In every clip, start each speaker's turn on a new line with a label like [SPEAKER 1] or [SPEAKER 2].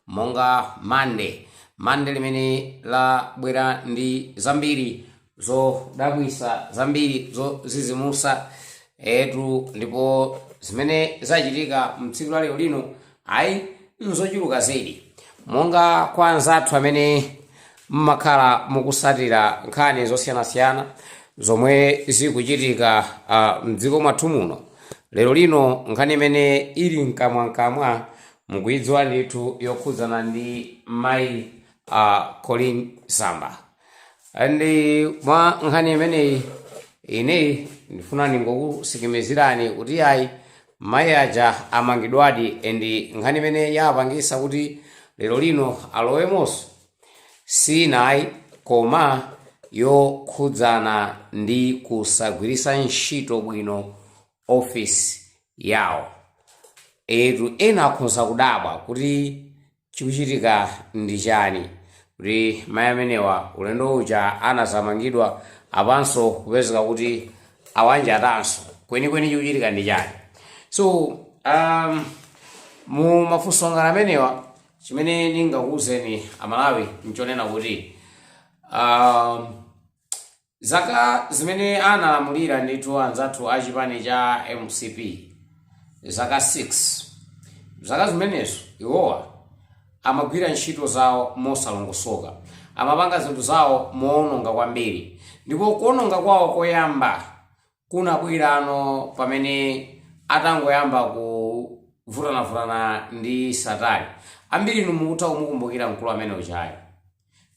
[SPEAKER 1] monga mande mande limene labwera ndi zambiri zodabwisa zambiri zozizimusa etu ndipo zimene zachitika mtsiku la lero lino ayi nzochuluka zedi monga kwa anzathu amene mumakhala mukusatira nkhani zosiyanasiyana zomwe zikuchitika uh, mdziko mwathu muno lero lino nkhani imene ili mkamwamkamwa mukuidziwa ndithu yokhudzana ndi mayi a Colleen Zamba and mwa nkhani imeneyi ineyo ndifuna ndingokusikimizirani kuti ayi mayi aja amangidwadi and nkhani imene yapangisa kuti lero lino alowemonso si inayi koma yokhudzana ndi kusagwiritsa ntchito bwino office yawo. Eetu ena akhonza kudabwa kuti chikuchitika ndi chani kuti mai amenewa ulendo uja anadzamangidwa apanso kupezeka kuti awanjatanso kwenikweni chikuchitika ndi chani. So um, mu mafunso ngati amenewa chimene ndingakuwuzeni aMalawi nchonena kuti um, Zaka zimene analamulira ndithu anzathu a chipani cha mcp zaka 6 zaka zimenezo iwowa amagwira ntchito zawo mosalongosoka amapanga zinthu zawo moononga kwambiri ndipo kuononga kwawo koyamba kunabwera pamene atangoyamba kuvutanavutana ndi satana ambiri inu mukutha kumukumbukira mkulu amene ujayo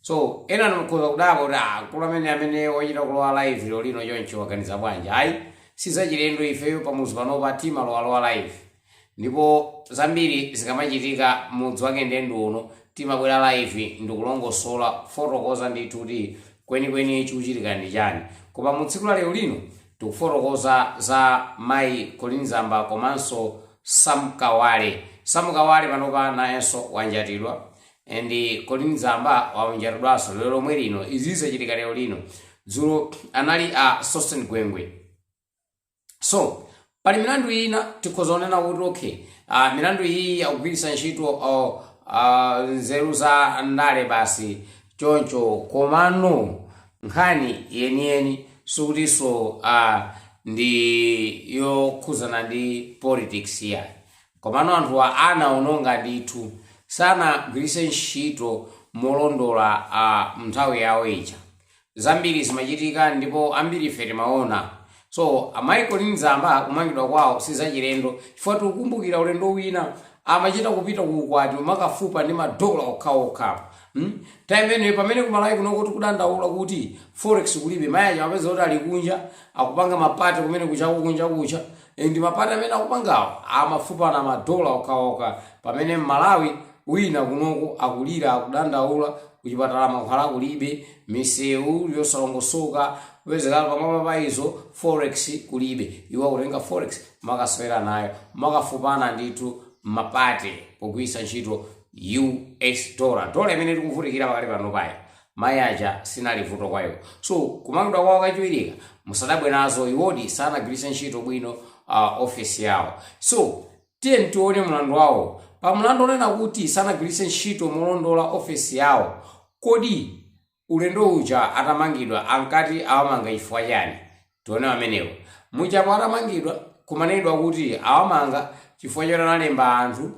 [SPEAKER 1] so ena inu mukhoza kudabwa kuti "Ah, mkulu amene amene wochita kulowa live lero lino choncho waganiza bwanji ayi sizachilendo ifeyo pamudzi panopa timalowalowa live Ndipo zambiri zikamachitika mudzi wake ndendi uno timabwera live ndikulongosola kufotokoza ndithu kuti kwenikweni chikuchitika ndi chani koma mu tsiku la lero lino tikufotokoza za mayi Colleen Zamba komanso Sam Kawale. Sam Kawale panopa nayenso wanjatidwa and Colleen Zamba wanjatidwanso lero lomwe lino izi zachitika lero lino dzulo anali a Sosten Gwengwe so pali milandu ina tikhoza kunena kuti okay uh, milandu iyi yakugwiritsa ntchito uh, uh, nzeru za ndale basi choncho komano nkhani yeniyeni sikutinso uh, ndi yokhudzana ndi politics yayi komano anthuwa anaononga ndithu sanagwiritse ntchito molondola uh, mnthawi yawo ija Zambiri zimachitika ndipo ambirife timaona. So amayi Colleen Zamba kumangidwa kwawo sizachilendo chifukwa tikukumbukira ulendo wina amachita kupita ku ukwati kumakafupa ndi madola okhaokha. Hmm? Time imeneyo pamene ku Malawi kunoko tikudandaula kuti forex kulibe mayi aja umapeza kuti ali kunja akupanga mapati kumene kuchako kunja kucha Eh, ndi mapati amene akupangawo amafupana madola okhaokha pamene m'Malawi Wina kunoko akulira, akudandaula, kuchipatala mankhwala kulibe, misewu yosalongosoka, kupezeka pamwamba pa izo, forex kulibe. Iwo akutenga forex kumakasewera nayo, kumakafupana ndithu mma party pogwiritsa ntchito US dollar. Dollar imene tikuvutikira pakali panopayi, mayi aja sinali vuto kwa iwo. So, kumangidwa kwawo kachiwiriku, musadabwe nazo, iwodi sanagwiritse ntchito bwino ofesi yawo. So, Tiyeni tione mlandu wawo. Pa mlandu wonena kuti sanagwiritse ntchito molondola ofesi yawo, kodi ulendo uja atamangidwa ankati awamanga chifukwa chani? Tione amenewo. Muja atamangidwa kumanenedwa kuti awamanga chifukwa choti analemba anthu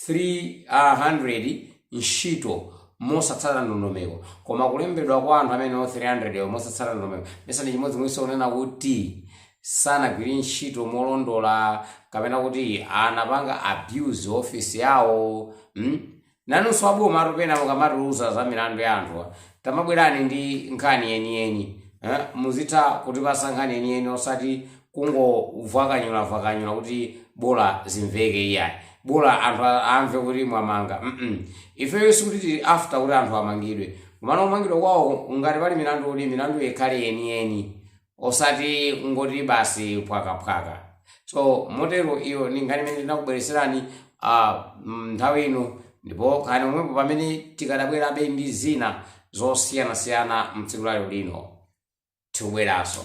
[SPEAKER 1] 300 ntchito mosatsata ndondomeko. Koma kulembedwa kwa anthu amene 300 wo mosatsata ndondomeko mesa ndi chimodzimodzinso kunena kuti sanagwiritse ntchito molondola kapena kuti anapanga abuse ofesi yawo mm? nanunso aboma nthawi zina mukamatiuza za milandu ya anthu tamabwerani ndi nkhani yeniyeni eh? muzitha kutipatsa nkhani yeniyeni osati kungovwakanyulavwakanyula kuti bola zimveke iyayi bola anthu a- amve kuti mwamanga mm ifeyo sikuti tili after kuti anthu amangidwe komano kumangidwa kwawo ngati pali milandu uli milandu ikhale yeniyeni osati kungoti basi phwakaphwaka so motero iyo ndi nkhani imene ndinakubweretserani ah, mm, nthawi ino ndipo khalani pomwepo pamene tikadabwerabe ndi zina zosiyanasiyana mtsiku la lero lino tikubweranso